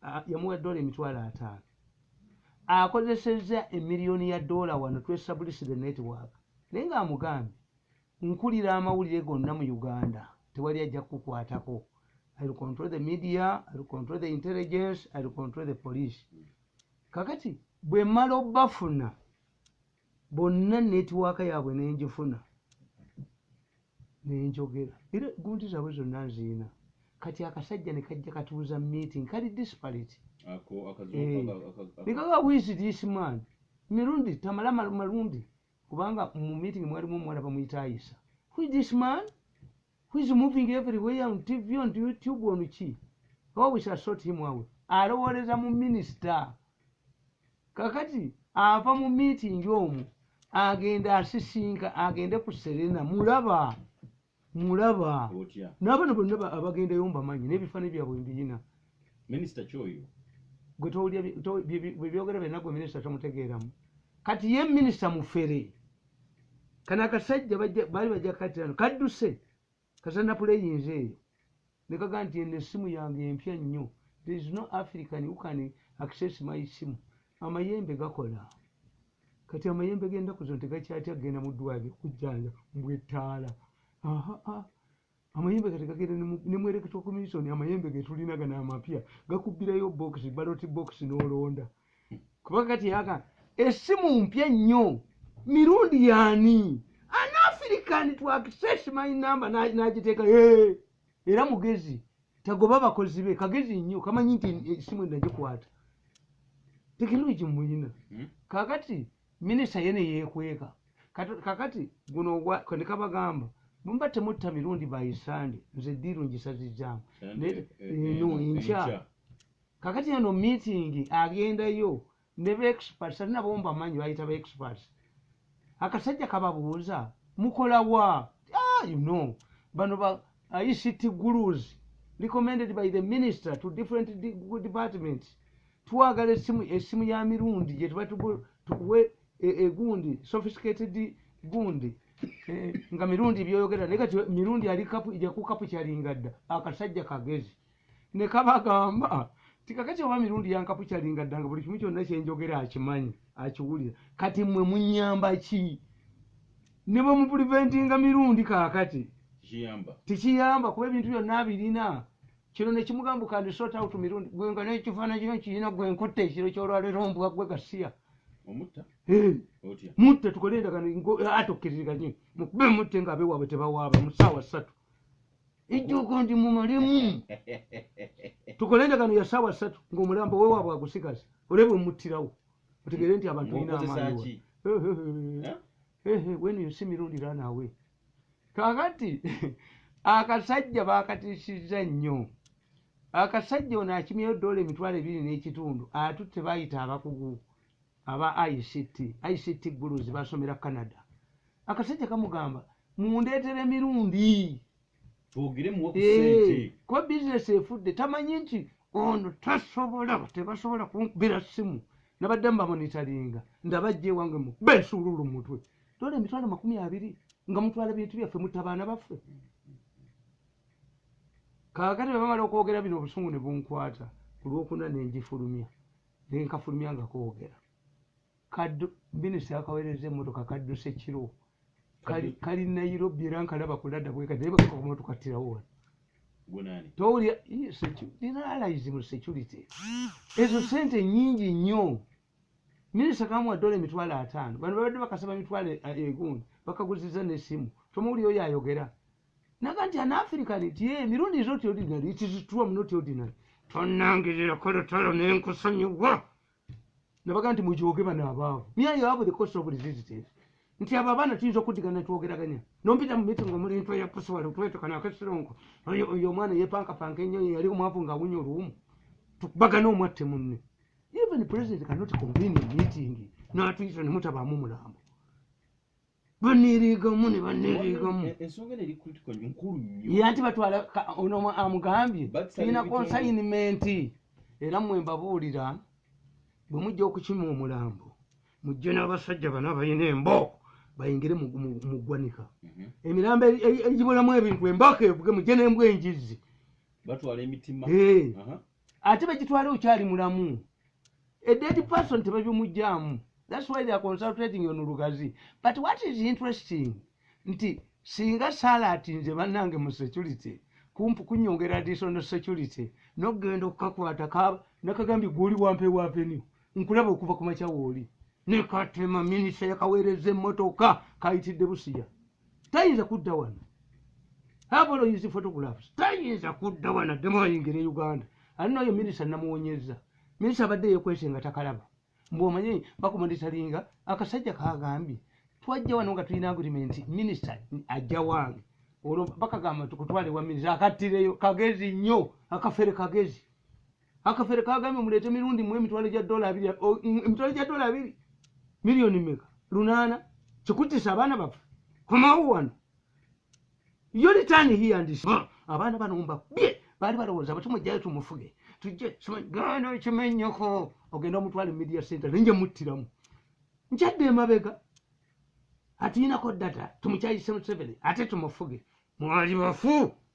ah, yamuwa dola emitwalo ataano akozesezza emiliyoni ya dola wano twesablisire network naye nga amugambye nkulira amawulire gonna mu uganda tewali ajja kukukwatako ill control the media ill control the intelligence ill control the police kakati bwemala obafuna bonna netiwaaka yaabwe ne ngifuna ne njogera era ggunti zaabwe zonna nzirina kati akasajja ne kajja katuuza meeting kali disparate eh, ne kaga wiisi this man mirundi tamala malundi kubanga mu meeting mwalimu omuwala bamuyita ayisa who is this man who is moving everywhere on TV on YouTube on ki oh we shall sort him out alowooleza mu minister kakati ava mu meeting omu agenda asisinka agende ku Serena mulaba mulaba otya n'abana bonna ba- abagendayo mbamanyi n'ebifaani byabwe mbiyina minisita kyoyo gwe towulira bye- to- bye- bye- bye byogera byonna gwe minisita tomutegeeramu kati ye minisita mufere kano akasajja baali bajja katirano kadduse kasana puleyinza eyo nekaga nti eno essimu yange empya nnyo there is no african who can access my simu amayembe gakola kati amayembe gendaku zino tegakyatya kugenda mu ddwaliro okujjanja mbwettaala Amayembe kati gagenda ne mu electoral commission amayembe getulina gana amapya gakubbirayo bokisi baloti bokisi n'olonda kuba kati aka essimu mpya nnyo mirundi yaani an african to access my number n'agiteeka era mugezi tagoba abakozi be kagezi nnyo kamanyi nti essimu endagikwata tekinologi muyina hmm? kakati Minister ye neyekweka Kati kakati guno ogwa kwenikabagamba bwemuba temutta mirundi by Sunday nze deal njisazizamu naye eh, eh, eh, no enkya kakati eno meeting agendayo ne ba experts ali nabo mbamanyi bayita ba experts akasajja kababuuza mukola wa ah, you know bano ba ICT gurus recommended by the minister to different departments twagala esimu esimu ya mirundi gyetuba tukuwe e, egundi sophisticated gundi e, nga mirundi byoyogera naye kati mirundi ali kapu ija ku kapu kyalinga dda akasajja kagezi ne kabagamba tikakati oba mirundi yankapu kyalinga dda nga buli kimu kyonna kyenjogera akimanyi akiwulira kati mmwe munyamba ki ne bwe mupuliventinga mirundi kakati tekiyamba kuba ebintu byonna abirina kino nekimugamba kandi sort out mirundi gwe nga nekifaananyi kino kirina gwe nkutte ekiro kyolwalero mbwa gwe gasiya mutta tukole endagano ate okkiririganye mukube mutte nga abewaabwe tebawaaba mu saawa ssatu ejjoogo ndi mumalemu tukole endagano ya saawa ssatu ngaomulambo wewaabwe agusigaza olebe omuttirawo otegeere nti abantu balina amaani eh, eh, eh, when you see mirundi run away kakati akasajja bakatisizza nnyo akasajja ono akimyeyo dola emitwalo ebiri n'ekitundu atutte bayita abakugu aba ict ict gulus basomera canada akasajja kamugamba mundeetera emirundi eh, kuba bizinesi efudde tamanyi nti ono tasobola tebasobola kunkubira simu nabadde mubamonitaringa ndabajja ewange mu besuululu mutwe tola emitwalo makumi abiri nga mutwala bintu byaffe mutabaana baffe kakati bebamala okwogera bino obusungu ne bunkwata ku lwokuna ne ngifulumya ne nkafulumya nga koogera kaddu minisita akaweereza emmotoka kadduse kiro kali nairobi era nkalaba kulada bweka naye bakakoma tukattirawo wano towulira nina alaizi mu security ezo sente nyingi nnyo Minister kamuwa dola emitwalo ataano bano babadde bakasaba mitwalo eh, egundi bakaguziza nesimu tomuwuli oyo ayogera naga nti an african nti ye mirundi is not ordinary it is true am not ordinary tonangirira kolutalo nenkusonyiwa nabaga nti mujoge bano abaavu mia yoabu the cost of resistance nti abo abaana tuyinza okudigana twogeraganya nompita mu meeting omuli nto yakusiwala otwetekana akesironko oyo omwana yepankapanka ennyo yali omwavu ngaawunya oluwumu tukubagana omwatte munne even president cannot convene a meeting natuyita nemutabamu mulambo banirigamu ne banirigamu e- ensonga eno eri critical nkulu nnyo ye anti batwala ono amugambye tulina consignment era mwe mbabuulira bwe mujja okukima omulambo mujje n'abasajja bano abalina embo bayingire mu ggwanika mhm. emirambo egibulamu ebintu emboka evuge mujje n'embwa enjizzi batwala emitima ate bagitwale okyali mulamu a dead person tebabimugyamu thats why theyare consultating on lugazi but what is interesting nti singa saala ati nze bannange mu security kumpu kunyongera additional security nokugenda okukakwata nakagambye gwoli wampa ewa venue nkulaba okuva ku makya wooli nekatema minisita yakaweereza emmotoka kayitidde busiya tayinza kudda wano habolo use photographs tayinza kudda wano addemu ayingira e uganda ali noyo minisa namuwonyeza minisa abadde yekwese nga takalaba mbu omanyi bakumonitalinga akasajja kagambye twajja wano nga tulina agreement minisa ajja wange olwo bakagamba tukutwale wa minisa akattireyo kagezi nnyo akafere kagezi akafere kagambye muleete mirundi mu emitwalo gya dola abiri emitwalo gya dola abiri miliyoni meka lunaana kikuttisa abaana baffe komawo wano yo litaani hiya ndi abaana bano mbakubye baali balowooza bati mujjayo tumufuge tujje gana ekimenyoko ogenda omutwale media center nenje muttiramu nkyadde emabega atuyinako data tumukyayise museveni ate tumufuge mwali bafu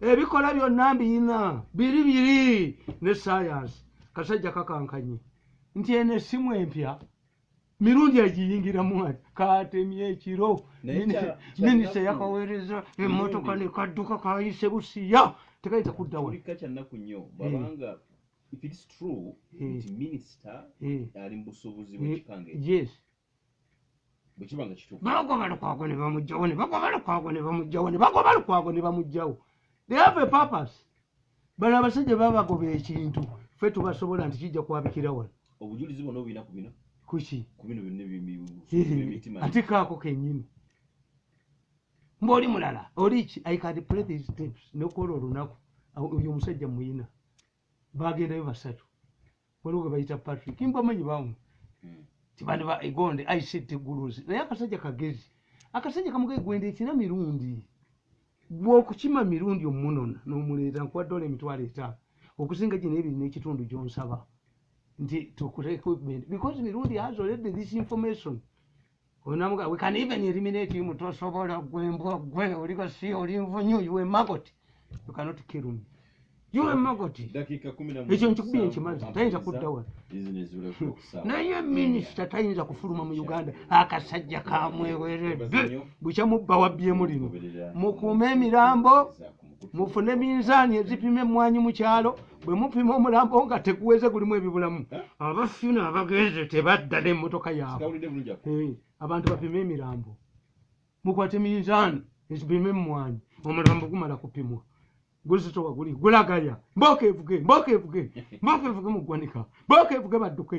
ebikola byonna mbiyina biri biri ne sayansi kasajja kakankanye nti eno essimu empya mirundi agiyingiramu ati katemye ekiro minisita yakaweereza emmotoka nekadduka kayise busiya tekayinza kudda wa bagoba lukwago ne bamugjawo ne bagoba lukwago ne bamugjawo ne bagoba lukwago ne bamugjawo they have a purpose bano abasajja babagoba ekintu fe tubasobola nti kijja kwabikira wano obujulizi bona obuyina ku bino kuki ku bino byonna ebyemitima ate kaako kenyini mbaoli mulala oli ki i can play these tips nokuola olunaku oyo omusajja muyina bagendayo basatu waliwo gwebayita patrick mbamanyi bamu hmm. tibandi ba egonde ict guluzi naye akasajja kagezi akasajja kamugaye gwenda ekina mirundi gwokukima mirundi omunona nomuleeta nkuwa dola emitwalo etaano okusinga gino ebiri nekitundu gyonsaba nti tukuteekbecause mirundi has already this information Unamuga, we can even eliminate him to sobola gwe mbwa gwe oliga si oli mvunyu you a maggot. You cannot kill me. You a maggot. Dakika 11. Ekyo nkikubiye nkimanzi tayinza kudda wano. Business ule kukusa. Naye minister tayinza kufuluma mu Uganda akasajja kamweweredde. Bukya mubba wabbye mulino. Mukuume emirambo. mufune minzaani ezipima emmwanyi mu kyalo bwe mupima omulambo nga teguweze gulimu ebibulamu abafuna abagenze tebadda n'emmotoka yaabwe eh, abantu bapima emirambo mukwate minzaani ezipima emmwanyi omulambo gumala kupimwa guzitowa guli gulagaya mboka evuge mboka evuge mboka evuge mu ggwanika mboka evuge badduke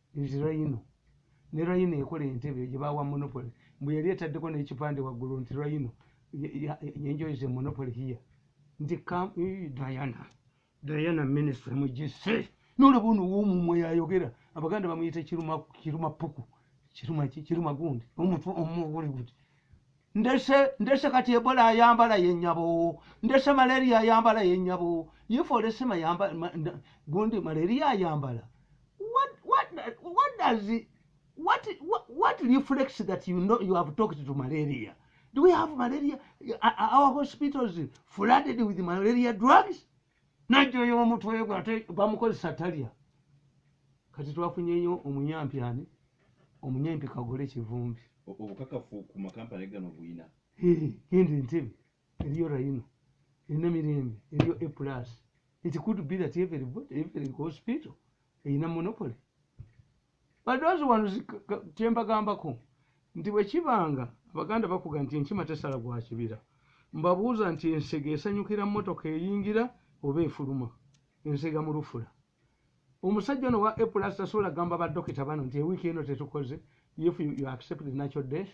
Nti Rhino ne Rhino ekola Entebbe gye baawa Monopoly mbu yali etaddeko n'ekipande waggulu nti Rhino enjoys the monopoly here nti Diana Diana minister mugisse n'olaba ono w'omumwe yayogera abaganda bamuyita kiruma puku kiruma ki kiruma gundi omutwe omu oguli guti ndese ndese kati ebola ayambala yenyabo ndese malaria ayambala yenyabo yifolesema yamba gundi malaria ayambala what what what does it, what, what what reflects that you know you have talked to malaria do we have malaria our hospitals flooded with malaria drugs najoya omutwe gwe ate bamukozesa talya kati twafunyeyo omunyampi ani omunyampi kagole kivumbi obukakafu ku makampani gano buyina genda entebe eriyo rayino erina mirembe eriyo a plus it could be that every, every hospital erina monopoly But those ones kyembagambako nti bwekibanga abaganda bakuga nti enkima tesala gwa kibira mbabuuza nti ensega esanyukira motoka eyingira oba efuluma ensega mulufula omusajja ono wa epulas tasobola gamba badokita bano nti ewiiki eno tetukoze if you accept the natural death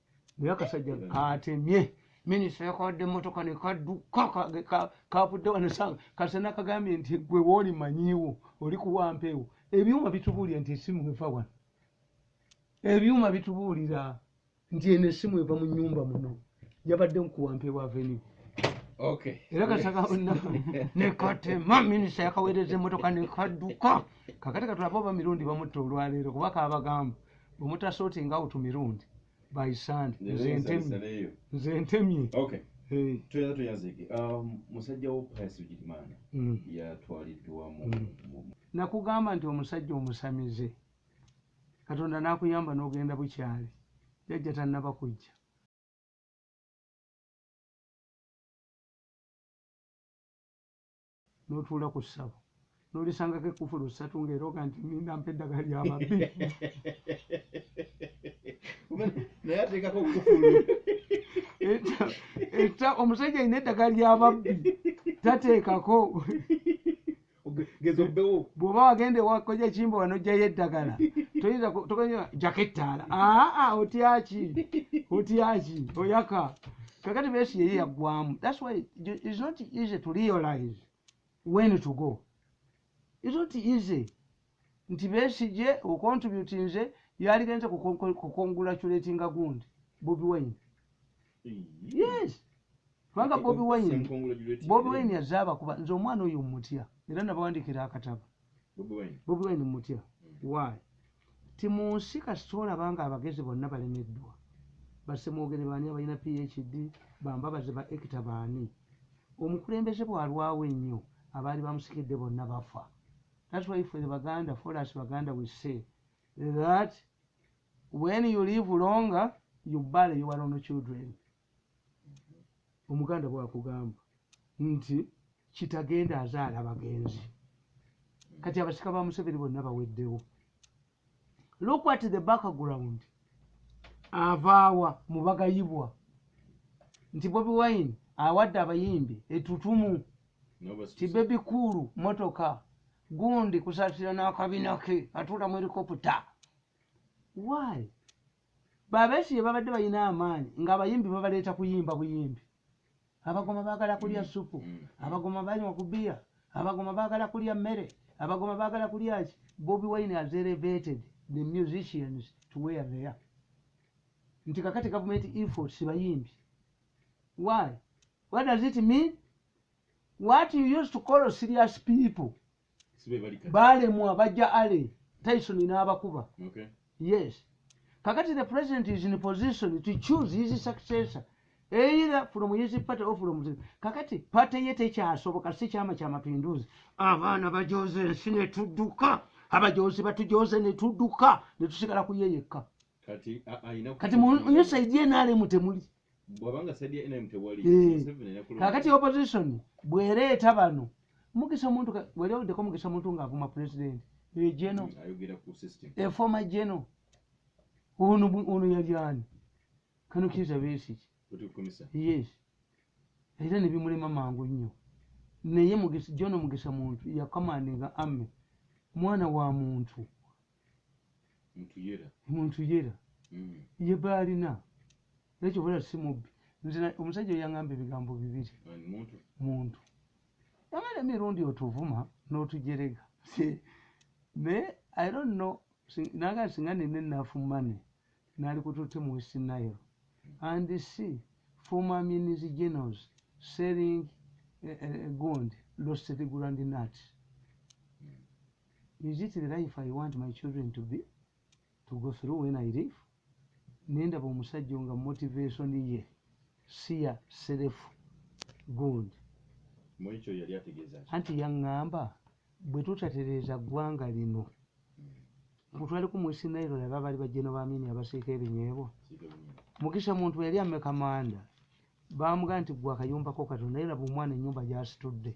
naye akasajja katemye minisita yakawadde emotoka nekadduka kavudde wanasanga kasana kagambye nti gwe wooli manyiiwo oli kuwampeewo ebyuma bitubuulira nti esimu eva wano ebyuma bitubuulira nti eno esimu eva mu nyumba muno yabadde mukuwampeewo avenue era kasaka nekatema minisita yakaweereza emotoka nekadduka kakati katulaba oba mirundi bamutta olwaleero kuba kabagamba bwemuta sorting out mirundi by sand nze ntemye tuyinza tuyazike um, musajja wo pius bigirimana mm. yatwaliddwa mm. nakugamba nti omusajja omusamize katonda nakuyamba nogenda bukyali jajja tannaba kujja N'otuula ku ssabo n'olisangako ekkufulu ssatu ng'erooga nti nninda mpa eddagala lya babbi. Naye ateekako kkufulu. Etta omusajja alina eddagala lya babbi tateekako. bwoba wagenda ewakoja kimba wano ojjayo eddagala toyinza jako ettaala aa otyaki otyaki oyaka kakati besi yeye yagwamu that's why it's not easy to realize when to go it's not easy nti besi je ocontribute nze yali genze kukongratulate nga gundi bobi wine yes kubanga bobi wine bobi wine yazaba kuba nze omwana oyo mutya era nabawandikira akataba bobi wine mutya why timunsi kasita olaba nga abagezi bonna balemeddwa basemwogere baani abalina phd bambabaze ba ekita baani omukulembeze bwalwawo ennyo abaali bamusikidde bonna bafa that's why for the baganda for us baganda we say that when you live longer you bury your own children omuganda bwakugamba nti kitagenda azaala bagenzi kati abasika ba museveni bonna baweddewo look at the background avaawa mubagayibwa nti bobi wine awadde abayimbi etutumu ti bebi kuulu motoka gundi kusasira n'akabina ke atuula mu helikopta why Ba Besigye babadde balina amaanyi ng'abayimbi babaleeta kuyimba buyimbi. Abagoma baagala kulya ssupu, Abagoma banywa ku bbiya, Abagoma baagala kulya mmere, Abagoma baagala kulya ki? Bobi Wine has elevated the musicians to where they are. Nti kakati gavumenti efforts bayimbi. Why? What does it mean? What you used to call serious people balemwa bajja ale tyson n'abakuba okay. yes kakati the president is in position to choose his successor either from his party or from the kakati party ye tekyasoboka si kyama kya mapinduzi abaana bajoze ensi ne tudduka abajozi batujoze ne tudduka ne tusigala kuyeyekka kati kati mu nsaidi ye nalemu temuli bwabanga side ya nrm tewali eh. museveni yakulonda kakati opposition bwereeta bano mugisa muntu wali owuddeko mugisa muntu ng'avuma president egeno efoma geno ono yalyani kano kiza besiki yes era nebimulema mangu nnyo naye jono mugisa muntu yakamandinga ame mwana wa muntu muntuyera mm. ye baalina nekyo bala si mubbi nze omusajja oyangamba ebigambo bibiri muntu yamala emirundi otuvuma n'otujerega naye i don't know naga singa nina enafu money nali kututte mu west nile and si former minis genos selling eh, eh, gond lost the grand nut Is it the life I want my children to be to go through when I leave? Nendaba omusajja nga motivation ye siya self good. Mwekyo yali ategeza. Anti yangamba bwe tutatereza gwanga lino. Mutwale ku mwisi nairo laba bali bajeno ba mini abasika ebinyebo. Mukisha muntu yali ameka manda. Bamuganda gwa kayumba ko katonda era bumwana nyumba jasitudde.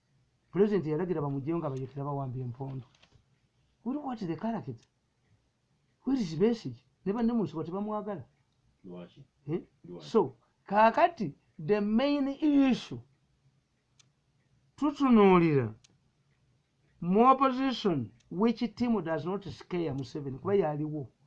President yalagira bamujeyo nga bayekera bawamba empondo. Uri what the character? Where is Besigye? Ne banne mu nsiko tebamwagala. Lwaki? Eh? Lwaki? So, kakati the main issue tutunuulira mu opposition which team does not scare Museveni kuba yaliwo.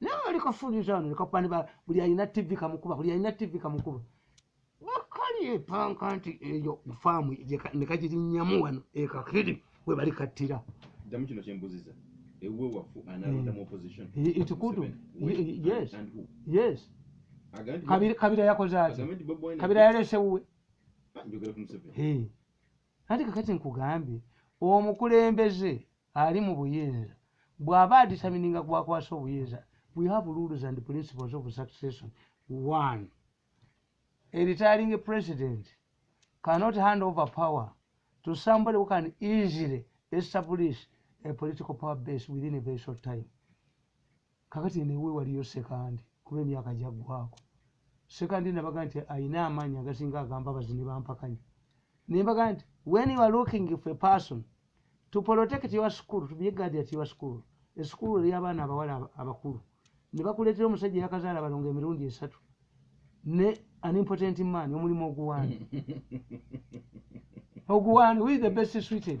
naye wali kafuliza wano lekakuba niba buli alina tv kamukuba buli alina tv kamukuba wakali epanka nti eyo faamu nekagirinyamu wano ekakiri we bali kattira damu kino kyembuziza ewe wafu analodamu hmm. opposition ekikutu yes yes kabira yakoze ati kabira yalese wuwe ah, njogera ku museveni Anti kakati nkugambye omukulembeze ali mu buyinza bwaba aditamininga gwakwasa obuyinza we have rules and principles of succession one a retiring president cannot hand over power to somebody who can easily establish a political power base within a very short time Kakati eno ewe waliyo sekandi kuba emyaka jagwako sekandi nabaga nti ayina amanyi agasinga agambabazi nebampakanya nembaga nti when you are looking for a person to protect your school to be a guard at your school esukulu eri abaana abawala abakulu nebakuletera omusajja yakazaala balonga emirundi esatu ne an important man omulimu oguwani oguwani who is the best suited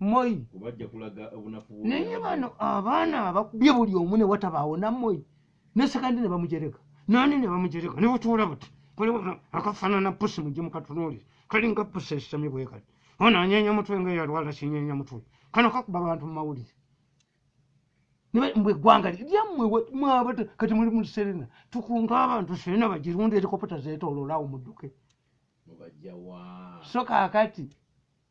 moyi naye bano abaana abakubye buli omu ne watabaawo na moyi ne sekandi ne bamujereka nani ne bamujereka ne butuula buti akafanana pusi mujje mukatunuulire kalinga pusi esitami bwekati ono anyenya mutwe nga eyalwala kinyenya mutwe kano kakuba abantu mu mawulire mbwe eggwanga lyammwe mwabata kati muli mu serena tukunga abantu serena bagirunda erikopota zeetoololaawo mudduke so kaakati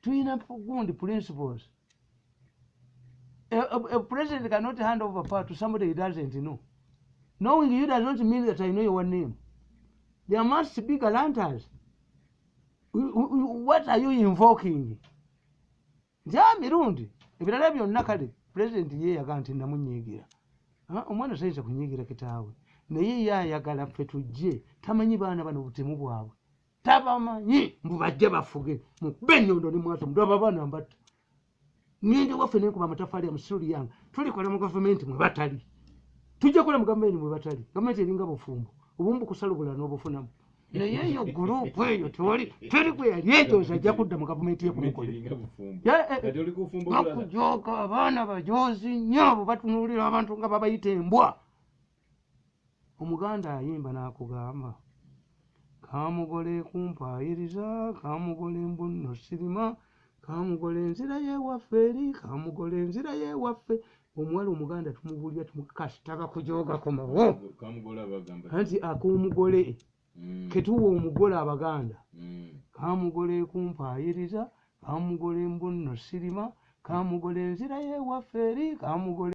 tuyina gundi principles a, a, a president cannot hand over power to somebody he doesn't know knowing you does not mean that i know your name there must be galanters what are you invoking nti a ah, mirundi ebirala byonna kale president ye yaga nti namunyiigira ah, omwana tayinza kunyiigira kitaawe naye ye ayagala ffe tujje tamanyi baana bano butemu bwabwe tabamanyi mbu bajja bafuge mukube enyondo ne mwata mudaba abaana mbatta ngende waffe nenkuba amatafaali amusuli yange tulikola mu gavumenti mwe batali tujja kola mu gavumenti mwe batali gavumenti eringa bufumbo obumu bukusala obula n'obufunamu naye eyo gurupu eyo tewali teri gwe yali ejoza ajja kudda mu gavumenti yekumukolakujooka eh, eh, eh. abaana bajoozi nnyo abo batunuulira abantu nga babayita embwa Omuganda ayimba n'akugamba, Kamugole kumpaayiriza, kamugole mbu nno sirima, kamugole nzirayo ewaffe eri, kamugole nzirayo ewaffe. Omuwala Omuganda tumubuulira kasita bakujooga komawo. Anti ak'omugole mm. ketuwa omugole Abaganda. Mm. Kamugole kumpaayiriza, kamugole mbu nno sirima, kamugole nzirayo ewaffe eri, kamugole.